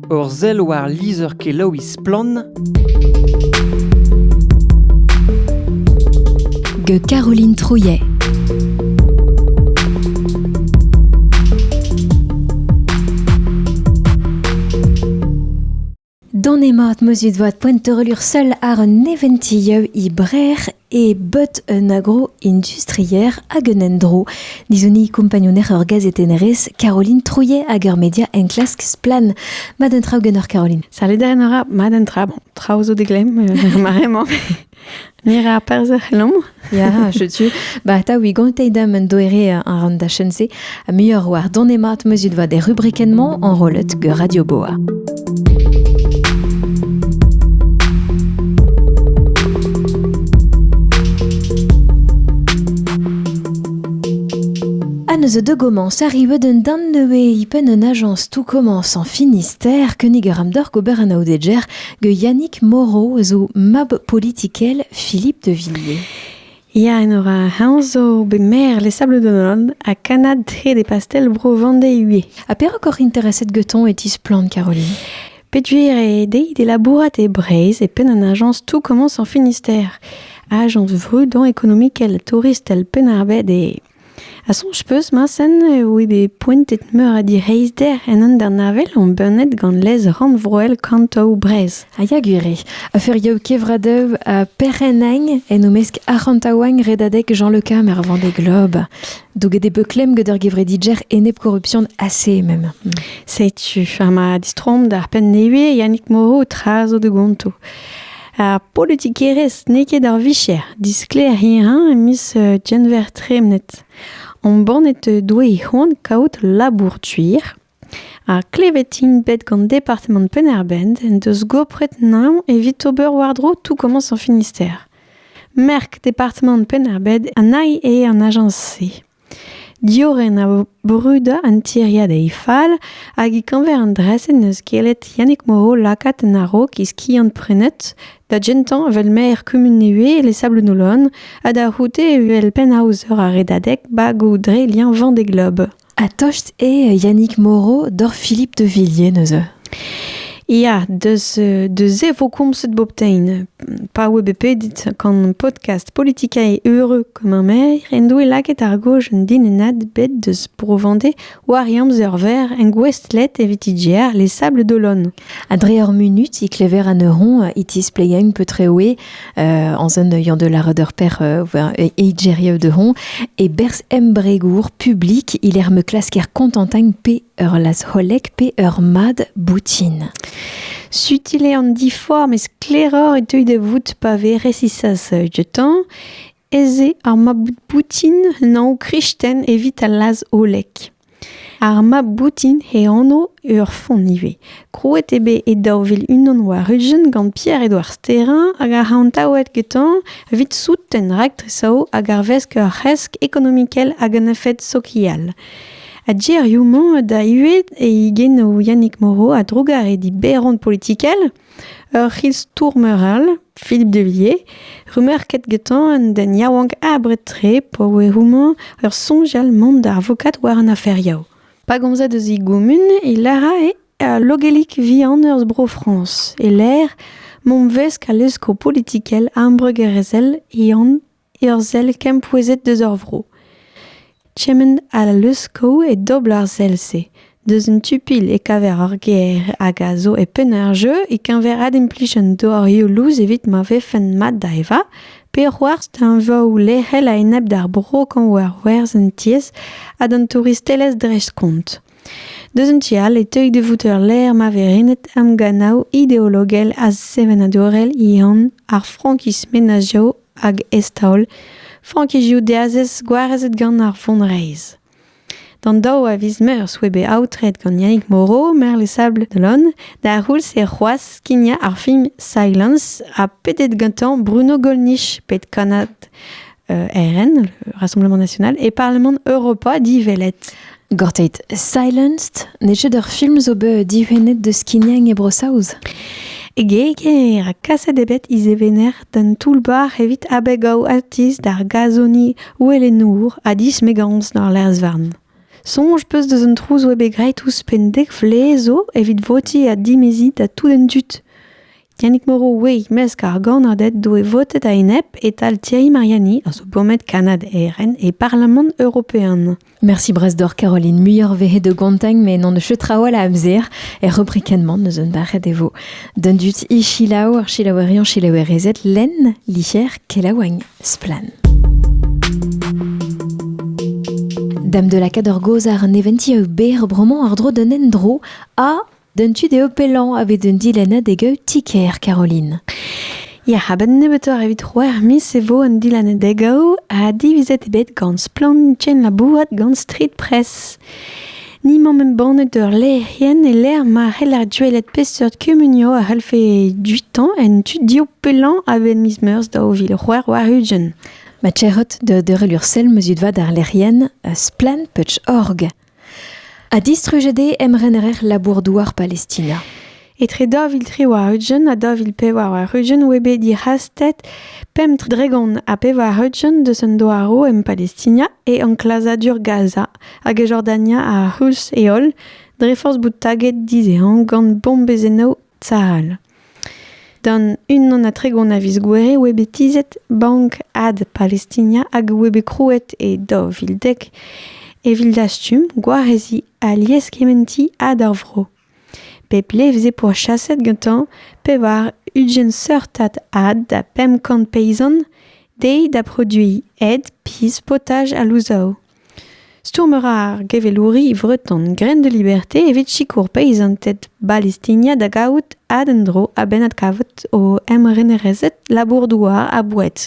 Ur sell war lizher-kelaouiñ Splann! gant Caroline Trouillet. Don emañ at meuzut voat poent teurelur seul ar un neventilleu i brer e bot un agro-industrier hag un endro. Dizuni kompagnouner ur gazetennerez, Caroline Trouillet hag ur media enklask Splan. Mad un traoù genoc'h Caroline. Salut da enora, mad un tra. Bon, traoù zo deglem, euh, maremañ. Mira perzh ec'h Ya, je tu. Ba, ta, wi gantei dam un doere an ran da chen-se, Ha muioc'h war don mat meuzit vat er rubrikenn-mañ enrollet gant Radio Boa. Anneus de commence arrive d'un dan neué ipen un agence tout commence en Finistère keniger amdor gober an aodeger ge Yannick Moreau zo mab politikel Philippe de Villiers. Ya, Enora, heñ zo bet maer Les Sables d'Olonne ha kannad hed e pastell bro Vendée-Hué. Ha perak oc'h intereset getoñ e tisplann, Caroline? Peduer eo dezhi d'e labourat e Breizh e penn an ajañs Tout commence en Finistère, ajañs vrudañ ekonomikel, touristel Penn-ar-Bed eo. Ha soñj 'peus, Mañsen, eo eo bet poentet meur a direizhder en hanternavel embannet gant lez rannvroel Kantoù Breizh. Ha ya gwir eo. A feuriou kevradev ha perc'hennañ en o-mesk arc'hantaouañ redadeg Jean Le Cam er Vendée Globe. Douget eo bet klemm gant ur gevredidjer enep-korrupsion assez même. Setu, ha ma distroomp d'ar penn nevez, Yannick Moreau, tra zo da gonto. Ar politikerezh n'eo ket ar vicher. Disklêr hirañ em eus genver tremenet. Embannet doe e c'hoant kaout labour tuir. Ha klevet int bet gant departamant Penn-ar-Bent en deus gopret naon evit ober war-dro tout komañs ar Finistère. Merk departamant Penn-ar-Bent a nai eo an ajañs-se. Diorren a vo brudañ an tiriad e fall hag e-keñver an dra-se n'eus gellet Yannig Moreau lakaat en a-raok e skiant-prenet da gentañ evel maer kumun Nevez e Sablounolon ha da c'houde evel pennaozer ar Redadeg bagoù dre liañ vent d'e glob. Ha tost eo Yannig Moreau doc'h Philippe de Villiers neuze ? Ya, deus, se vo komzet bobtein. Pa oe bet pedit gant podcast Politika e Heureux Kemmermeer en doe lakaet ar goj un dinennad bet deus Bro-Vendée war e amzer-verr en gouestlet evit IGR Les Sables d'Olonne. Ha dre ur munut, i klever an ur hon i tisplegañ peu treoe euh, en zon euiañ de la redeur per euh, e de hon e berz embregour publik il er me klasker kontentañ pe ur lazc'holek pe ur mad boutin. Sutil eo an diforc'h, met sklaeroc'h e teu da vout pa vez resisas dioutañ ez eo ar mab boutin un anv kristen evit al lazholek. Ar mab boutin e anv ur font ivez. Krouet eo bet e daou vil unan war-ugent gant Pierre-Edouard Sterrin hag ar c'hantaouet getañ evit souten raktres hag arvesk ur c'hresk ekonomikel hag un efed sokial. Ha gerioù-mañ da ivez e genoù Yannick Moreau a-drugarez d'Iberon politikel ur c'histour-meur all, Philippe Devilliers, remerket getañ an den yaouank abred-tre pa oe houmañ ur soñjal mont da avokat war an aferioù. Pa gomzed eus e gumun e lârae al logelik vihan eus Bro-Frañs e-lec'h mont 'vesk al leskoù politikel ambregerezhel e an ur sell kempouezhet deus ur vro. Kement ha leuskel e dobl ar sell-se. Deus un tu-pilh e kaver ur gêr hag a zo e penn ar jeu e-keñver adimplij an dorioù lous evit ma vefen mat da evañ pe c'hoarzh teñvoù lec'hel a-enep d'ar bro kañv war werzh an tiez ha d'an touristelezh dreist-kont. Deus un tu all e teuy da vout ur lec'h ma vez renet emgannoù ideologel ha sevenadurel ehan ar frankism menazioù hag eztaol frankizioù diazez gwarezet gant ar vonreizh. D'an daou a viz meurzh oa bet aotret gant Yannick Moreau, maer Les Sables de l'Aune, d'ar c'houlz e c'hoazh skignañ ar film Silence ha pedet gantañ Bruno Gollnisch, pet kannad euh, RN, le Rassemblement National, et Parlement Europa, dit Velette. Gorteit Silenced n'eo ket ur film zo bet dihunet deus skignañ e Bro-Saoz. E geger ha kaset eo bet izevener d'an toull-bac'h evit abegaoù atiz d'ar gazoni ouelenour ha dismegañs d'ar lerz-varn. Soñj peus deus an trouz oa bet graet ouzhpenn dek vlez zo evit votiñ ha dimeziñ da tout an dud. Yannick Moreau ouez mesk ar gannaded doe votet a-enep e-tal Thierry Mariani a zo bomet Kanad ERN e Parlamant European. Merci brasdor Caroline muioc'h vehe de gontagn me n'an eus traoù a amzer er rubrikenman eus un barret e vo. Dundut i chilaou ar chilaouerion chilaouerezet len, licher, kelaouagn, splan. Dame de la Cador Gozar neventi au ber broman ardro d'un endro a D'an tu dezho pellañ a vez un dilennad e gaout ti-kêr Caroline. Ya, a-benn nebeutoc'h evit c'hwec'h miz e vo an dilennad e gaout ha divizet eo bet gant Splann labourat gant Street Press. Ni 'maomp embannet ur lec'hienn e lec'h ma c'heller gwelet peseurt kumunioù a c'hellfe dutañ en tu div pellañ a-benn miz Meurzh daou vil c'hwec'h warn-ugent. Ma tec'hot da deurel ur sell ma zud vat ar lec'hienn Splann.org. ha distrujet eo emrener labour-douar Palestina. Etre daou vil tri war-ugent ha daou vil pevar war-ugent oa bet dic'hastet pemp dregont ha pevar-ugent deus an douaroù en Palestina e enklazadur Gaza hag e Jordania ar c'houlz e holl dre forzh bout taget dizehañ gant bombezennoù Tal. Gant unan ha tregont a viz Gouere oa bet tizhet Bank Ad Palestina hag oa bet krouet e daou vil dek evit dastum gwareziñ alies kementiñ had ar vro. Pep levr veze pourchaset gantañ pevar ugent seurtad had da pemp kant peizant dezhi da produiñ ed, pizh, potaj ha louzaou. Stourm a ra ar gevelouri vreton Graines de Liberté evit sikour peizanted Balestinia da gavout ad-endro a-benn adkavout o emrenerezed labour-douar ha boued.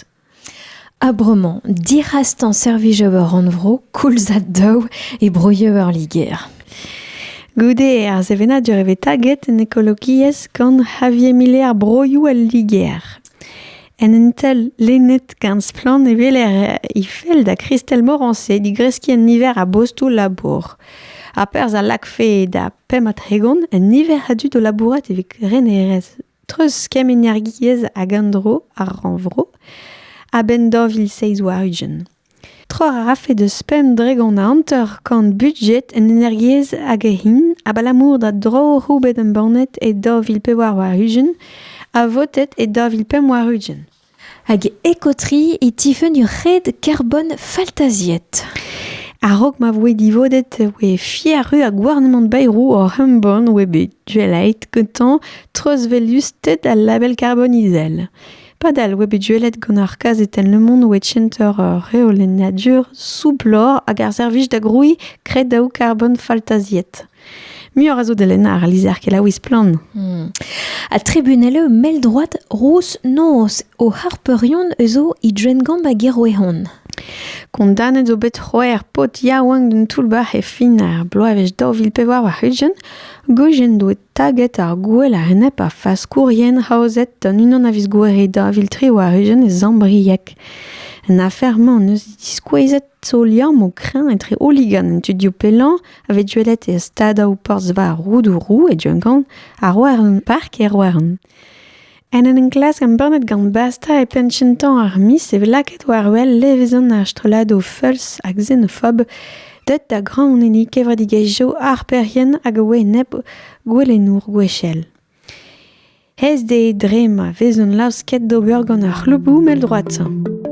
Ha bremañ, dic'hastañ servijoù ur rannvro koulzad daou e broioù ar Liger. Goude ar sevenadur e vez taget en ekologiezh gant Javier Miller broioù al Liger. En un tel lennet gant splann e weler he fell da Christelle Morancé digreskiñ un niver a bostoù labour. Ha perzh a lakfe da pemp-ha-tregont un niver a dud o labourat evit renerezh treuz kemm-energiezh hag an dro ar rannvro a-benn daou vil seizh warn-ugent. Trec'h a rafe deus pemp dregont a hanter-kant budjed en energiezh hag hin abalamour da droioù bet embannet e daou vil pevar warn-ugent ha votet e daou vil pemp warn-ugent. Hag ekotri e tifenn ur red karbon faltaziet. A-raok ma voe divodet e voe fiaru ha gouarnamant Bayrou oc'h embann oa bet duelait gantañ treuzvelusted al label karbon izel. Padal oa bet gwelet gant ar kazetenn Le Monde oa center reolennadur soublor hag ar servij da grouiñ kredaoù karbon faltaziet. Muioc'h a zo da lennañ ar lizher kelaouiñ splann. Hmm. Ha tribunel eo mell droad rouz noz o harpeurion eus o he drengamp hag e roehon. Kondanet zo bet c'hwec'h paotr yaouank d'un toull-bac'h e fin ar bloavezh daou vil pevar war-ugent. Goujen doet Taget ar gouel a-enep ar faskourien aozet gant unan a viz Gouere daou vil tri war-ugent e Zambrieg. An afer-mañ en deus diskouezet zo liamm o kreñv etre hooligan an tudioù pellañ a vez gwelet e stadoù porzh-veur Roudourou e Duncan ha Roerlon Park e Roerlon. En en enklask embannet gant Basta e penn kentañ ar miz e vez lakaet war-wel levezon ar strolladoù feuls ha xenofob deuet da graoñenniñ kevredigezhioù harperien hag a oa enep gouelennour gwechall. Aes dezhe dre ma vezont laosket d'ober gant ar c'hlouboù mell-droad-sañ.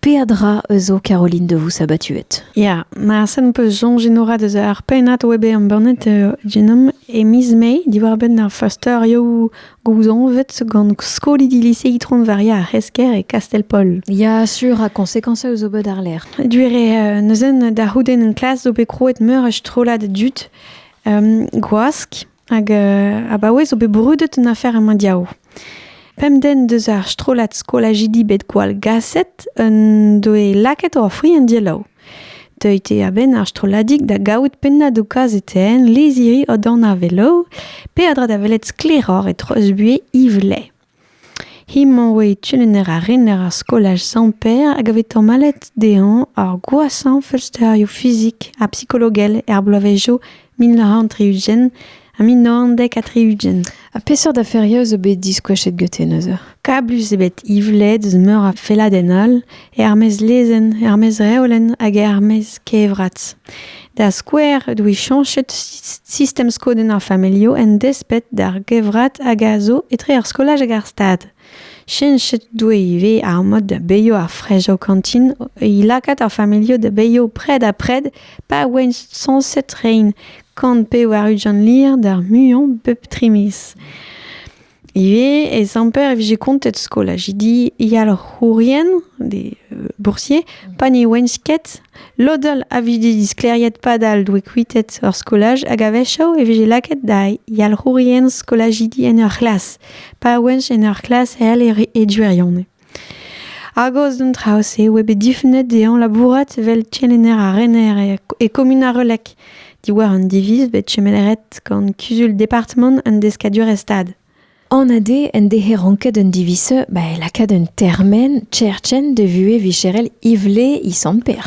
Peadra eus zo Caroline de vous sabatuet. Ya, ma sen peus soñj enorat eus ar pennad web embannet uh, genom e miz Mai diwar-benn ar fasteurioù gouzañvet gant skolidi lise Itron-Varia ar C'hesker e Kastell-Pol. Ya, sur, ha konsekansa eus ober d'arlerc'h. Duer eo neuzen da c'houdenn en klas zo bet krouet meur a strollad dud um, gwask Hag euh, abaoe zo bet brudet un afer en mondial. Pemden deus ar strollad skolajidi bet gwall gaset un doe lakaet o fri en dielaou. Deuit eo a-benn ar strolladik da gaout pennañ do kazetenn leziri o dan a velo, pe a dra da welet sklaeroc'h e treuzbuie Yves Lay. He-mañ 'oe kelenner ha rener ar skolaj Sant-Pêr hag a vez tamallet dezhañ ar gwashañ feulsterioù fizik ha psikologel er bloavezhioù mil nav c'hant tri-ugent ha mil nav c'hant dek ha tri-ugent. Ha peseurt aferioù zo bet diskoachet gete neuze? Kablus eo bet Yvled eus meur a felladenn all er-maez lezenn, er-maez reolenn hag er-maez kevrat. Da skouer, e doe chañchet sistem skodenn ar familhoù en desped d'ar gevrat hag a zo etre ar skolaj hag ar stad. Chenchet doe ivez ar mod da beilho ar frej o kantin, e lakaat ar familhoù da beilho pred ha pred pa oent sañset rein, kant pe war ujan lir d'ar muiañ bep tri miz. Ivez ez amper e vije kontet skolaj. Di yalc'hourien, des euh, boursiers, pa ne ouent ket, lodal a vije diskleriet padal doe kuitet ur skolaj hag a-wechoù e vije lakaet da yalc'hourien skolajidi en ur c'hlas, pa ouent en ur c'hlas hel e e duirionez. Argos d'an traoù-se oa bet difunet dezhañ labourat evel kelenner ha rener e kumun ar Relec diwar un diviz bet kemelet gant kuzul departamant an deskadurezh-stad. An ade en dehe ranket un diviz ba e lakaat un termen, Cherchen, de vuhez vicherel Ivle e Sant-Pêr.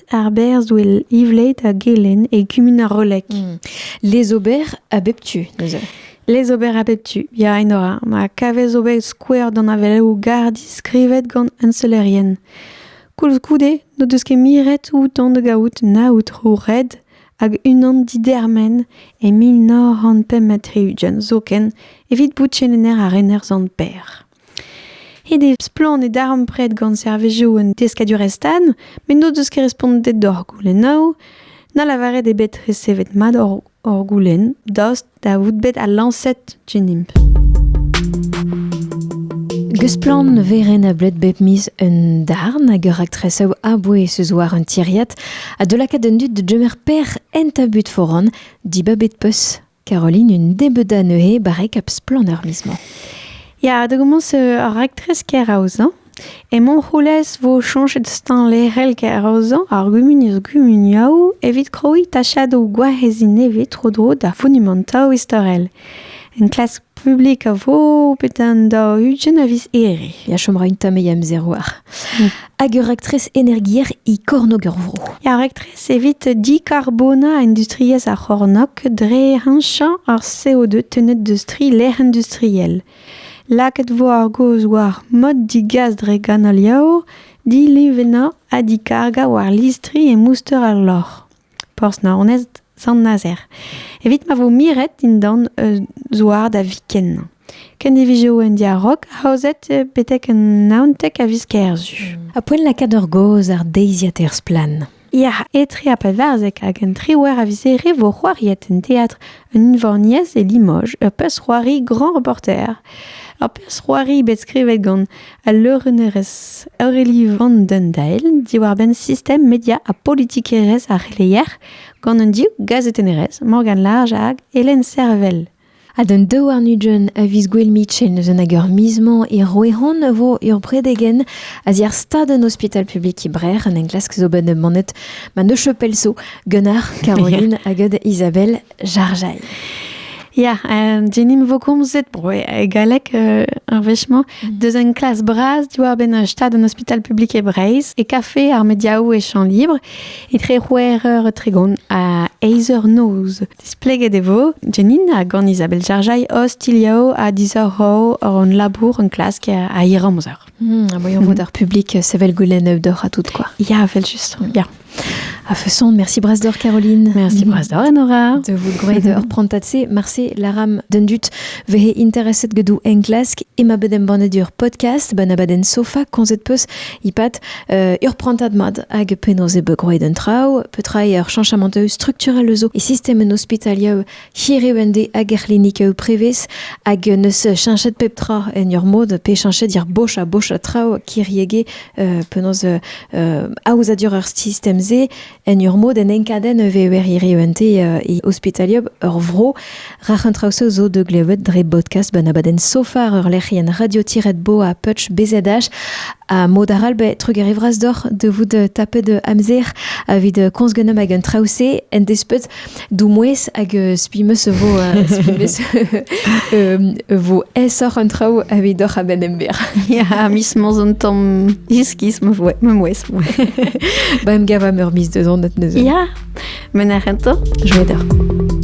Ar berzhwel Ivleit ha Gelen e kumun ar Roleg. Hmm. Les ober a bep tu, neuze. Les ober a bep tu, ya, Enora. Ma kavez ober skouer d'an aveleoù gar diskrivet gant unselerien. Koulskoude, n'o deus ket miret outan da gaout na outro red hag unan didermen e mil nav c'hant pemp ha tri-ugent zoken evit bout chenener ar rener zant Per. Ret eo splann e darempred gant servijoù un deskadurezh-tan met n'o deus ket respontet d'hor goulennoù, na lavaret eo bet resevet mat hor goulenn daoust da vout bet al lañset dinimp. Gesplann ne vez renablet bep miz un darn hag ur raktresoù a-bouez eus war un tiriad ha da lakaat an dud da gemer per en tabut foran dibabet peus Caroline, une débeuda neuze barrek ap splann ar miz-mañ. Ya, da gommons ar raktres keraozañ. E Montroulez vo chañchet stañ lec'hel keraozañ ar gumuniezh gumuniaoù evit krouiñ tachadoù gwareziñ nevez tro-dro d'ar fonumantoù istorel. Enklask publik a vo bet an daou ugent a viz Here. Ya chom ra un tamm e amzer war. Hag ur raktres energier e kornôg ur vro. Ar raktres evit dicarbona industriezh ar c'hornôg dre heñchañ ar CO2 tennet deus tri lec'h industriel. Lakaet vo ar gaoz war mod digas dre ganoliaoù, dilevennañ ha dikargañ war listri e mouster ar loc'h. Porzh-Naoned, Sant-Nazer, evit ma vo miret dindan un zouar da viken. Kendivizoù un diarog aozet betek un naonteg a viz kerzu. A poent lakaat ur gaoz ar deiziad er splann. Ya, etre a pevarzek hag un triwec'h a vizere vo c'hoariet en teatr un unvaniez e Limoges, ur pezh-c'hoari grand reporter. Ur pezh-c'hoari bet skrivet gant al leurennerez Aurélie Van den Dael diwar-benn sistem media ha politikerezh ar c'heleier gant un div gazetennerez Morgane Large hag Hélène Servel. Ha d'an daou arnudjen a viz gwell mitchen eus an hag ur miz-mañ e Roehon vo ur bredegen a ziar stad an ospital publik e Brer an enklask zo bet manet ma ne chopelso gant ar Caroline hag Isabelle Jarjail. Ya, um, Jenim vokomzet bro e galek euh, ar wechemañ, mm. deus un klas bras diwar-benn un stad un hospital publik e Breizh, e kafe ar mediaoù e champ libre, etre c'hwec'h eur e tregont ha eizh eur noz. Displeget e vo, Jenin hag an Isabel Jarjail ostilhao a disoc'h hor hon labour un klask a hir amzer. Hmm, voyons mm. voir ar public euh, sevel goulenn euh, d'or à tout quoi. Ya, vel juste. Ya. A façon, merci Brasse d'Or Caroline. Merci Brasse d'Or Nora. De vous grêt d'or prontatse marse laram dendut vehe interesset gedou en klask ima bedem bannet ur podcast banabaden sofa konzet peus ipat euh, ur prantat mad hag penaos e begroe den traou petra ur chanchament structurel eus e system en hospitalia Hir eo en de hag er c'hlinik eo prevez hag neus cheñchet pep tra en ur mod pe cheñchet er boch ha boch a traoù kiriege euh, penaos euh, euh, aozadur ar sistem-se en ur mod en enkadenn e vever hiriv ente euh, e ospitaliop ur vro rac'h an traoù-se zo de glevet dre podcast ben abadenn sofar ur lec'hienn radio-bo a Putsch BZH ha mod arall be trugarevras doc'h de vout tapet amzer avit komz genom hag an traoù-se en despet Doumouez hag euh, spi meus e vo euh, spi meus e vo aesoc'h an traoù avidoc'h a-benn ember. ya, mis mos an tamm iskis ma voe, ma mouez. ba em gavam ur mis deus anat neuze. Ya, men ar rento, joa deoc'h.